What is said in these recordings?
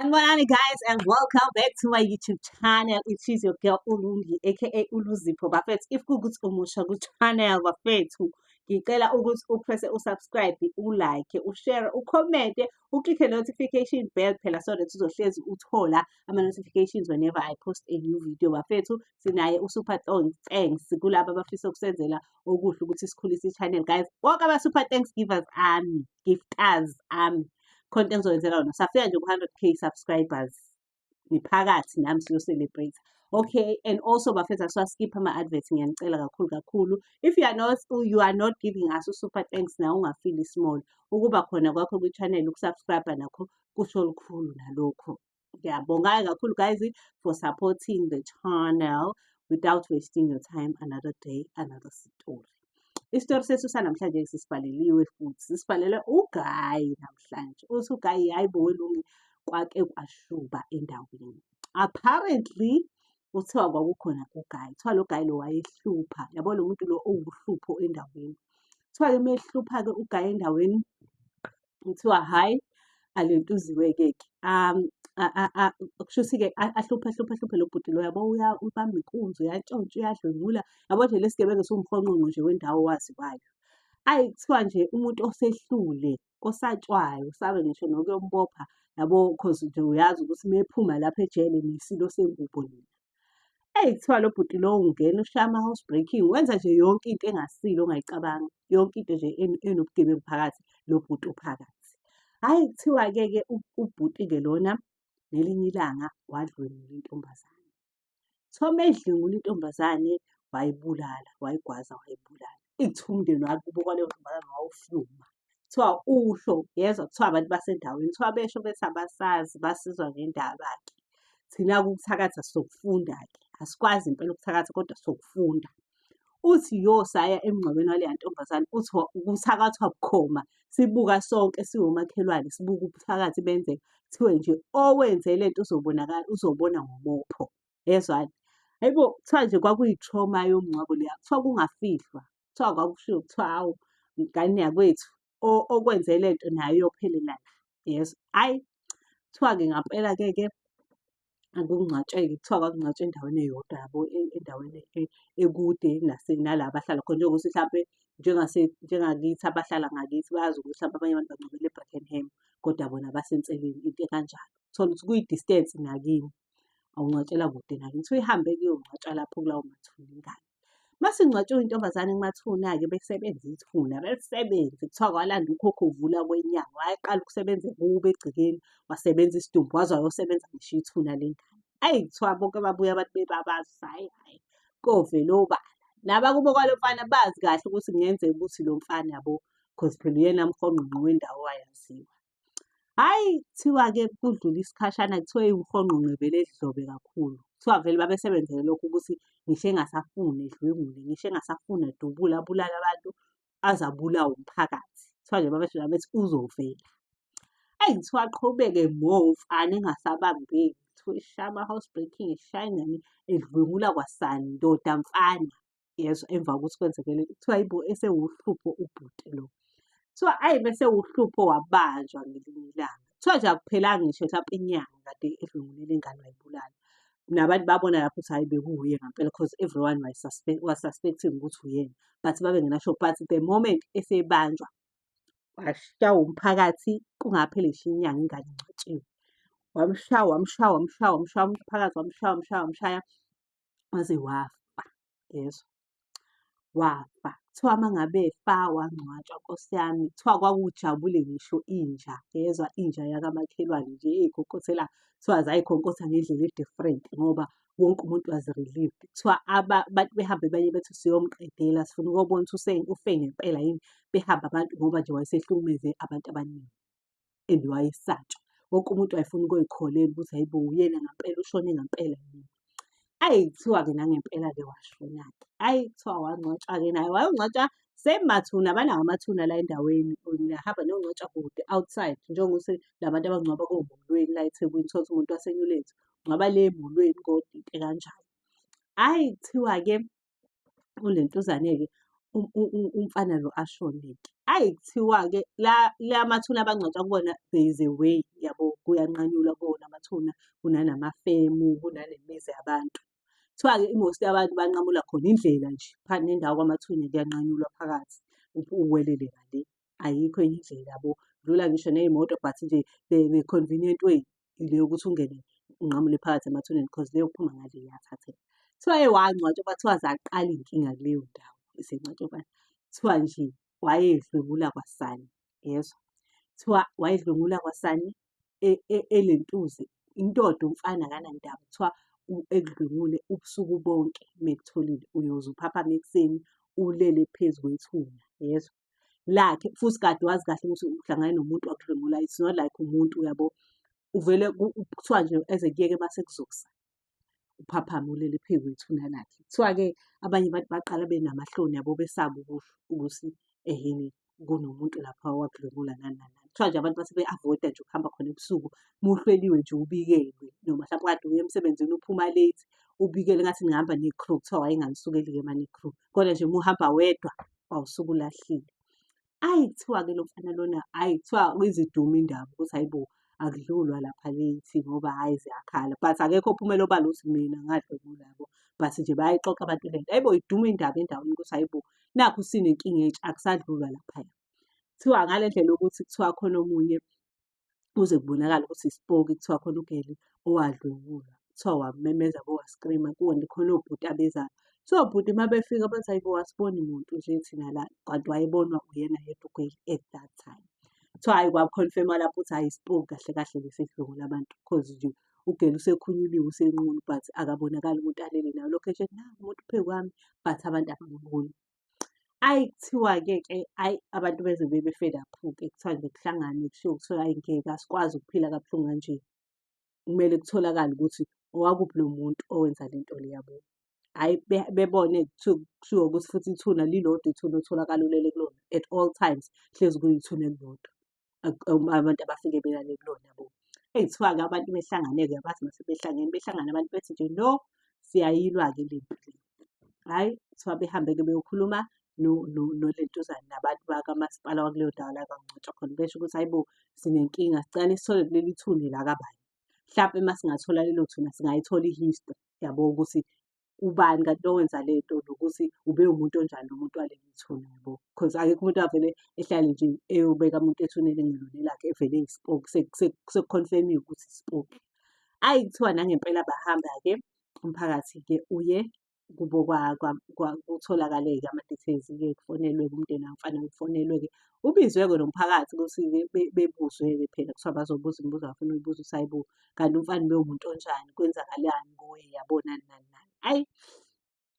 Sanibonani guys and welcome back to my YouTube channel. It is your girl Ulungi aka Uluzipho bafethu. If kukuthi umusha ku channel bafethu, ngicela ukuthi upresse usubscribe, ulike, ushare, ucommente, uclick notification bell phela so that uzohlezi uthola ama notifications whenever I post a new video bafethu. Sinaye uSuper Thanks kulabo abafisa ukusenzela okuhle ukuthi sikhulise i-channel guys bonke ama-super thanks givers ami gifters ami khona into engizoyenzela wona safika nje ku-hundred k subscribers ngiphakathi nami siyo-celebrate okay and also bafetha siwaskipha ama-advert ngiyanicela kakhulu kakhulu if you are not you are not giving us usuper thanks na ungafili small ukuba khona kwakho kwi-channel ukusubscribe nakho kusho lukhulu nalokho Ngiyabonga kakhulu guys for supporting the channel without wasting your time another day another story. Isitori sethu sanamhlanje sisivaleliwe futhi sisivalele ugayi namhlanje. Uthi ugayi hayi bo welungi kwake kwashuba endaweni. Apparently kuthiwa kwakukhona ugayi kuthiwa lo gayi lo wayehlupha yabo lo muntu lo owuhlupho endaweni kuthiwa-ke uma ehlupha-ke ugayi endaweni kuthiwa hhayi alentuziwe-ke-ke um kusho ukuthi-ke ahluphe ahluphe ahluphe lo bhuti loya bowuya ubamba inkunzi uyantshontsha uyadlwengula yabo nje lesi gebengu siwumhonqonqo nje wendawo owaziwayo ayi kuthiwa nje umuntu osehlule osatshwayo sabe ngisho nokuyombopha yabo cause nje uyazi ukuthi uma ephuma lapha ejele nesilo sengubo nina Eyi kuthiwa lo bhuti lowo ungena ushaya ama-house breaking, wenza nje yonke into engasile ongayicabanga, yonke into nje enobugebengu phakathi, lo bhuti uphakathi. Hhayi kuthiwa-ke-ke ubhuti-ke lona ngelinye ilanga wadlwengula intombazane. Kuthiwa uma edlwengula intombazane wayibulala, wayigwaza wayibulala. Eyi kuthiwa umndeni wakubo kwaleyo ntombazane wawuhluma. kuthiwa uhlo yezwa kuthiwa abantu basendaweni kuthiwa besho bethi abasazi basizwa ngendaba-ke thina ukuthakatha sokufunda-ke asikwazi impela ukuthakatha kodwa sokufunda uthi yo saya emngcwabeni waleya ntombazane uthi kuthakathwa bukhoma sibuka sonke siwomakhelwane sibuka ubuthakathi benzeka kuthiwe nje owenze le nto uzobonakala uzobona ngomopho yezwani hayibo kuthiwa nje kwakuyi-trauma yomngcwabo leya kuthiwa kungafihlwa kuthiwa kwakushiwo kuthiwa awu mngane yakwethu okwenze le nto nayo iyophelela la yes ayi kuthiwa-ke ngampela-ke ke akungcwatsheke kuthiwa kwakungcwatshwa endaweni eyodwa yabo e, endaweni e, ekude nala abahlala khona njengokuthi mhlampe njengakithi abahlala ngakithi bayazi ukuthi mhlawumbe abanye abantu bangcwabele e-brackenham kodwa bona basenseleni into ekanjalo thola ukuthi kuyi-distance nakini awungcwatshela kude nakini so ihambe kuyongcwatshwa lapho kulawo mathuna ingane Masingcwatshiwe intombazane kumathuna-ke bekusebenza ithuna, belisebenze kuthiwa kwalanda ukhokho uvula kwenyanga, wayaqala ukusebenza ekubo egcekeni, wasebenza isidumbu waze wayosebenza ngisho ithuna lengane. Ayi kuthiwa bonke babuya abantu bebabaza ukuthi hhayi hhayi kovela obala. Nabakubo kwalo mfana bazi kahle ukuthi kungenzeka ukuthi lo mfana yabo cause phela uyena mhongqongqo wendawo wayaziwa. Hhayi, kuthiwa-ke kudlule isikhashana kuthiwa eyi uMhonqo ngivele edlobe kakhulu. Kuthiwa vele babesebenzele lokho ukuthi ngisho engasafuni edlwengule, ngisho engasafuni edubule abulale abantu aze abulawe umphakathi. Kuthiwa nje babesho nami bethi uzovela. Eyi kuthiwa aqhubeke more umfana engasabambeki. Kuthiwa eshaya ama-house breaking, eshaya ingane, edlwengula kwasani, ndoda mfana. yezwa emva kokuthi kwenzeke lento kuthiwa yibo esewuhlupho ubhuti lo so ayi bese uhlupho wabanjwa ngelinye ilanga kuthiwa nje akuphelanga ngisho mhlawumpe inyanga kade edlungulile ingane wayibulala nabantu babona lapho ukuthi hhayi bekuwuye ngampela because everyone was, suspect, was suspecting ukuthi uyena but babengenasho but the moment esebanjwa washawa umphakathi kungapheli ngisho inyanga ingane ingcwatshiwe wamshaya wamshaya wamshaya wamshaya umphakathi wamshaya wamshaya wamshaya waze wafa yezwa wafa kuthiwa uma ngabe efa wangcwatshwa nkosi yami kuthiwa kwakujabule ngisho inja yezwa inja yakamakhelwane nje eyikhokhosela kuthiwa zayikhonkosa ngendlela e-different ngoba wonke umuntu was relieved kuthiwa abantu behambe banye bethi siyomqedela sifuna ukobona ukuthi ufe ngempela yini behambe abantu ngoba nje wayesehlukumeze abantu abaningi and wayesatshwa wonke umuntu wayefuna ukuyikholelwa ukuthi hayibo uyena ngampela ushone ngampela yini ayi kuthiwa-ke nangempela-ke washona-ke ayi kuthiwa wangcwatshwa-ke naye wayongcwatshwa same mathuna abanawo amathuna la endaweni niyahamba niyongcwatshwa kude outside njengokuthi la bantu abangcwaba komulweni la ethekwini thola ukuthi umuntu wasenyulethu ngcwaba le emulweni kodide kanjalo hhayi kuthiwa-ke unentuzane-ke umfana lo ashone-ke. Ayi kuthiwa-ke la la mathuna abangcwatshwa kubona there is a way yabo kuyanqanyulwa kuwona amathuna kunanamafemu kunanemizi yabantu. Kuthiwa-ke i-most yabantu banqamula khona indlela nje phambi nendawo kwamathuna kuyanqanyulwa phakathi uwelele ngale. ayikho enye indlela yabo dlula ngisho ney'moto but nje the, the convenient way ile yokuthi ungene unqamule phakathi emathuneni because leyo kuphuma ngale iyathatheka kuthiwa eye wangcwatshwa kwathiwa zaqala iy'nkinga kuleyo ndawo isengcwatshobana kuthiwa nje wayedlwengula kwasani yezwa kuthiwa wayedlwengula kwasani e- e- elentuzi indoda umfana akanandaba kuthiwa u- ekudlwengule ubusuku bonke mekutholile uyoze uphaphame ekuseni ulele phezu kwethuna yezwa lakhe futhi kade wazi kahle ukuthi uhlangane nomuntu wakudlwengula it's not like umuntu uyabo uvele kuthiwa nje eze kuyeke uma sekuzokusa uphaphame ulele phezu kwethu nalakhe kuthiwa-ke abanye abantu baqala benamahloni yabo besaba ukusho ukuthi ehini kunomuntu lapha owakudlwengula nani nani kuthiwa nje abantu base be-avoida nje ukuhamba khona ebusuku muhleliwe nje ubikelwe noma mhlawumbe kade uye emsebenzini uphuma late ubikele ngathi nihamba ne-crew kuthiwa wayenganisukeli-ke uma ne-crew kodwa nje muhamba wedwa wawusuke ulahlile. Ayi kuthiwa-ke lo mfana lona ayi kuthiwa iziduma indaba ukuthi hayi bo akudlulwa lapha kithi ngoba hhayi ziyakhala but akekho ophumela obala ukuthi mina ngadlwengula yabo but nje bayayixoxa abantu le nto ayibo iduma indaba endaweni ukuthi hayibo nakhu sinenkinga entsha akusadlulwa laphaya kuthiwa ngale ndlela yokuthi kuthiwa khona omunye kuze kubonakale ukuthi isipoki kuthiwa khona ugeli owadlwengulwa kuthiwa wamemeza bo wascreama kuwona khona obhuti abezayo so bhuti uma befika bathi hayi bo wasiboni muntu nje thina la kanti wayebonwa uyena yedwa ugeli at that time kuthiwa hayi kwakukhonfema lapho ukuthi hayi isipoki kahle kahle lesi sidlwengula abantu cause nje ugeli usekhunyuliwe usenqunu but akabonakali umuntu alele nayo location naku umuntu phezu kwami but abantu abamuboni Ayi kuthiwa-ke ke ayi abantu bezwe bebe-fed up-ke kuthiwa nje kuhlanganwe kushiwo kuthiwa ayi ngeke asikwazi ukuphila kabuhlungu kanje. Kumele kutholakale ukuthi owakuphi lo muntu owenza le nto le yabo. Hhayi bebone kuthiwa ukuthi futhi ithuna lilodwa ithuna otholakala ulele kulona at all times, hlezi kuyithuna elilodwa. abantu abafike belale kulona bo. Eyi kuthiwa-ke abantu behlangane-ke abazi uma sebehlangene, behlangane abantu bethi nje no, siyayilwa-ke le mpi le. Hhayi, kuthiwa behambe-ke beyokhuluma nolentuzane nabantu bakamasipala wakuleyo ndawo la kwaNgcwatshwa khona, besho ukuthi hhayi bo, sinenkinga sicela sithole kuleli thuna la kabani. Hlampe uma singathola lelo thuna singayithola i-history, yabo ukuthi ubani kanti lo wenza le nto nokuthi ube umuntu onjani lo muntu waleli ithuna yabo because akekho umuntu avele ehlale nje eyobeka umuntu ethuneni engelone lakhe evele ispoke sekuconfirmiwe ukuthi ispoke ayi kuthiwa nangempela bahamba-ke umphakathi-ke uye kubo kutholakale-ke ama-details-ke kufonelwe-ke umndeni wamfana kufonelwe-ke ubizwe-ke nomphakathi ukuthi bebuzwe-ke phela kuthiwa bazobuza imibuzo bafuna uyibuza usayibuka kanti umfana bewumuntu onjani kwenzakalani kuwe yabona nani nani ayi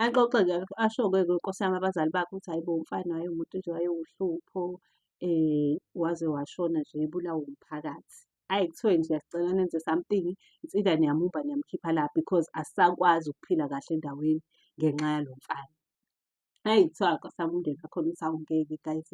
axoxe nje asho-ke nkosi yami abazali bakhe ukuthi hayi bo umfana waye umuntu nje wayewuhlupho um eh, waze washona nje ebulawa umphakathi ayi kuthiwe nje sicela nenze something it's either niyamumba niyamkhipha la because asisakwazi ukuphila kahle endaweni ngenxa yalo mfana Ayi kuthiwa kwasaba umndeni wakho ukuthi awungeke guys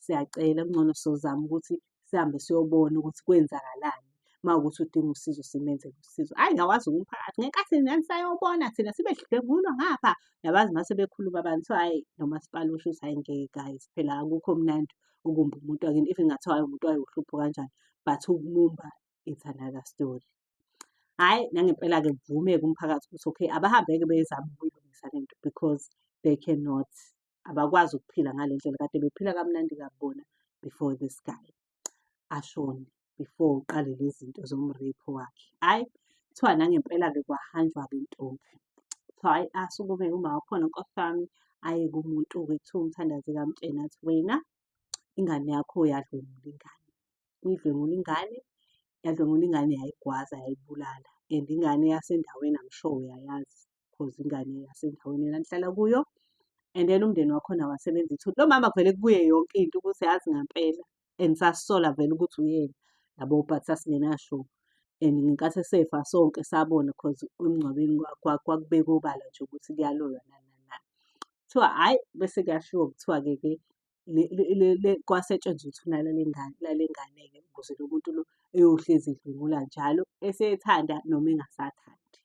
siyacela kungcono sozama ukuthi sihambe siyobona ukuthi kwenzakalani uma ukuthi udinga usizo simenzele usizo hhayi ngakwazi umphakathi ngenkathi nani sayobona thina sibe dlwengulwa ngapha yabazi uma sebekhuluma abantu kuthiwa hhayi nomasipala usho ukuthi hhayi ngeke guys phela akukho mnandi ukumba umuntu wakini even ngathiwa hhayi umuntu wayo uhlupho kanjani but ukumumba it's another story hhayi nangempela-ke kuvumeke umphakathi ukuthi okay abahambeke bezame ukuyilungisa le nto because they cannot abakwazi ukuphila ngale ndlela kade bephila kamnandi kabona before this guy ashone before uqale lezi zinto zomrepho wakhe hhayi kuthiwa nangempela-ke kwahanjwa-ke ntombi so hhayi asukume uma wakhona nkosi yami aye kumuntu-ke kuthiwa umthandazi kamtsheni athi wena ingane yakho yadlwengula ingane, uyidlwengula ingane, yadlwengula ingane yayigwaza yayibulala and ingane yasendaweni I'm sure uyayazi cause ingane yasendaweni enanihlala kuyo and then umndeni wakhona wasebenza ithuli. Lo mama kuvele kubuye yonke into ukuthi yazi ngampela and sasola vele ukuthi uyena yabo but sasingenasho and ngenkathi esefa sonke sabona cause emngcwabeni kwakubeka obala nje ukuthi kuyaloywa nani nani nani. Kuthiwa hhayi bese kuyashiwo kuthiwa-ke ke kwasetshenzwa uthuna lale ngane lale ngane-ke ukuze lo muntu lo eyohlezi edlwengula njalo esethanda noma engasathandi.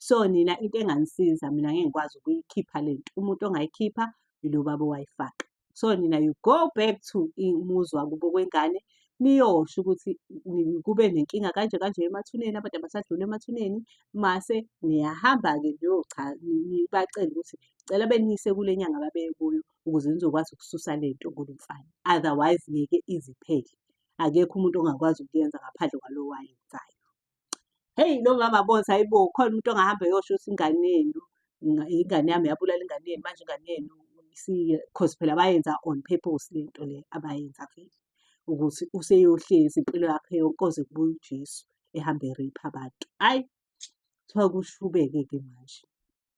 So nina into enganisiza mina ngeke ngikwazi ukuyikhipha le nto, umuntu ongayikhipha ilo baba owayifaka. so nina you go back to umuzi wakubo kwengane niyosho ukuthi kube nenkinga kanje kanje emathuneni abantu abasadlula emathuneni mase niyahamba-ke niyobacela ukuthi cela beniyise kule nyanga babeye kuyo ukuze nizokwazi ukususa le nto kulo mfana otherwise ngeke iziphele akekho umuntu ongakwazi ukuyenza ngaphandle kwalowo ayenzayo Hheyi lo mama boza hhayibo khona umuntu ongahamba eyosho ukuthi ingane yenu, ingane yami yabulala ingane yenu, manje ingane yenu cause phela bayenza on purpose le nto le abayenza vele. Ukuthi useyohlezi impilo yakhe yonke koze kubuye uJesu ehambe e-rape abantu. Hhayi, kuthiwa kushubeke-ke manje.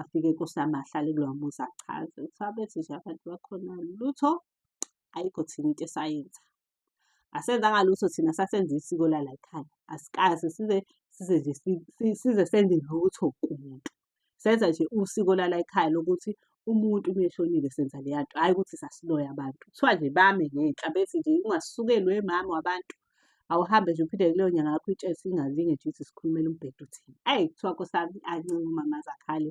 afike kusama ahlale kulowa muzi achaze kuthiwa bethi nje abantu bakhona lutho ayikho thina into esayenza asenzanga lutho thina sasenza isiko lala ekhaya asikaze size size nje size senze lutho kumuntu senza nje usiko lala ekhaya lokuthi umuntu uma eshonile senza leya nto hhayi ukuthi sasiloya abantu kuthiwa nje bame ngenhla bethi nje ungasukelwe mama wabantu awuhambe nje uphinde kuleyo nyanga yakho itshesi ingalinge nje ithi sikhulumela umbhedo uthini ayi kuthiwa kosami ancinga umama zakhale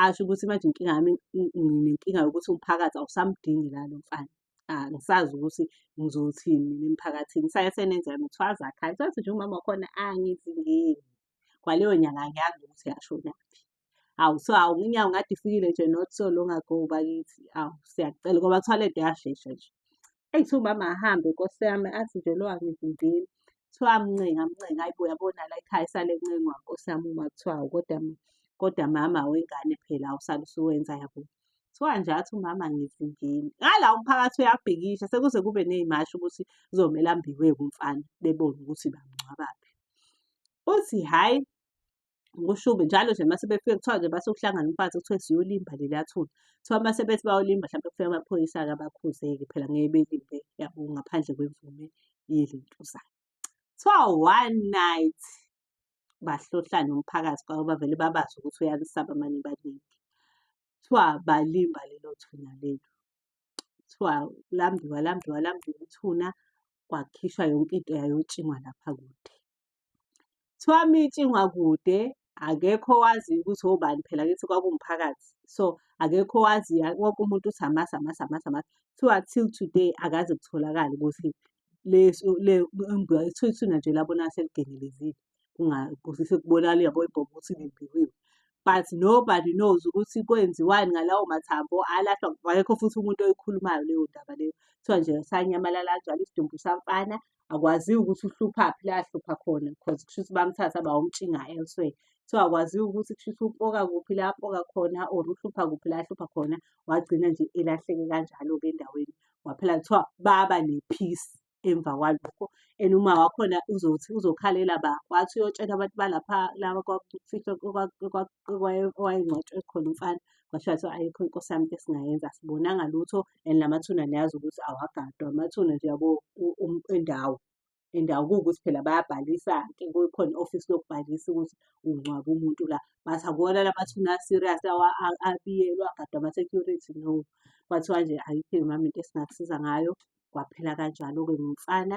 asho ukuthi manje inkinga yami nginenkinga yokuthi umphakathi awusamdingi lalo mfana angisazi ukuthi ngizothini emphakathini saye senenza yami kuthiwa azakhale sathi nje umama wakhona angizingeni kwaleyo nyanga angiyazi ukuthi yashonaphi awu so awu unyawo ngathi ifikile nje not so long ago bakithi awu siyacela ngoba kuthiwa le nto yashesha nje eyi kuthiwa umama ahambe nkosi yami athi nje lo angivimbile kuthiwa amncenga amncenga ayi bo yabona la ekhaya isale ncengwa nkosi yami uma kuthiwa awu kodwa kodwa mama wengane phela awusale usuwenza yabo kuthiwa nje athi umama ngivimbile ngala umphakathi uyabhikisha sekuze kube ney'mashi ukuthi kuzomele ambiwe kumfana bebone ukuthi bamngcwabaphi uthi hhayi kushubi njalo nje mase befike kuthiwa nje base kuhlangana umfazi kuthiwe siyolimba leli athula kuthiwa mase bethi bayolimba hlampe kufika amaphoyisa-ke abakhuzeke phela ngeke belimbe yabo ngaphandle kwemvume yelentuzana kuthiwa one night bahlohlane umphakathi kwabo bavele babazi ukuthi uyalisaba mane baningi kuthiwa balimba lelo thuna lelo kuthiwa lambiwa lambiwa lambiwa ithuna kwakhishwa yonke into yayotshingwa lapha kude Kuthiwa mitshingwa kude akekho owaziyo ukuthi obani phela kithi kwakuwumphakathi so akekho owaziyo wonke umuntu uthi amazi amazi amazi amazi kuthiwa till today akaze kutholakale ukuthi ithuna nje labona seligengelezile sekubonakala yabo ibhobo ukuthi limbiwiwe but nobody knows ukuthi kwenziwani ngalawo mathambo alahlwa akekho futhi umuntu oyikhulumayo leyo ndaba leyo kuthiwa nje sanyamalala kanjalo isidumbu samfana akwaziwe ukuthi uhluphaphi la ahlupha khona because kusho ukuthi bamthatha bawumtshinga elsewhere so akwaziwe ukuthi kusho ukuthi upoka kuphi la apoka khona or uhlupha kuphi la ahlupha khona wagcina nje elahleke kanjalo-ke endaweni waphela kuthiwa baba ne-peace emva kwalokho and uma wakhona uzothi uzokhalela ba wathi uyotshela abantu balapha laba kwakufihlwa owayengcwatshwe khona umfana kwashiwa kuthiwa ayikho inkosi yami into esingayenza asibonanga lutho and la mathuna niyazi ukuthi awagadwa amathuna nje yabo endawo endawo kuwukuthi phela bayabhalisa-ke kukhona i-ofisi lokubhalisa ukuthi ungcwaba umuntu la but akuwona la mathuna a-serious abiyelwa agadwa ama-security no kwathiwa nje ayikho mama into esingakusiza ngayo kwaphela kanjalo-ke ngumfana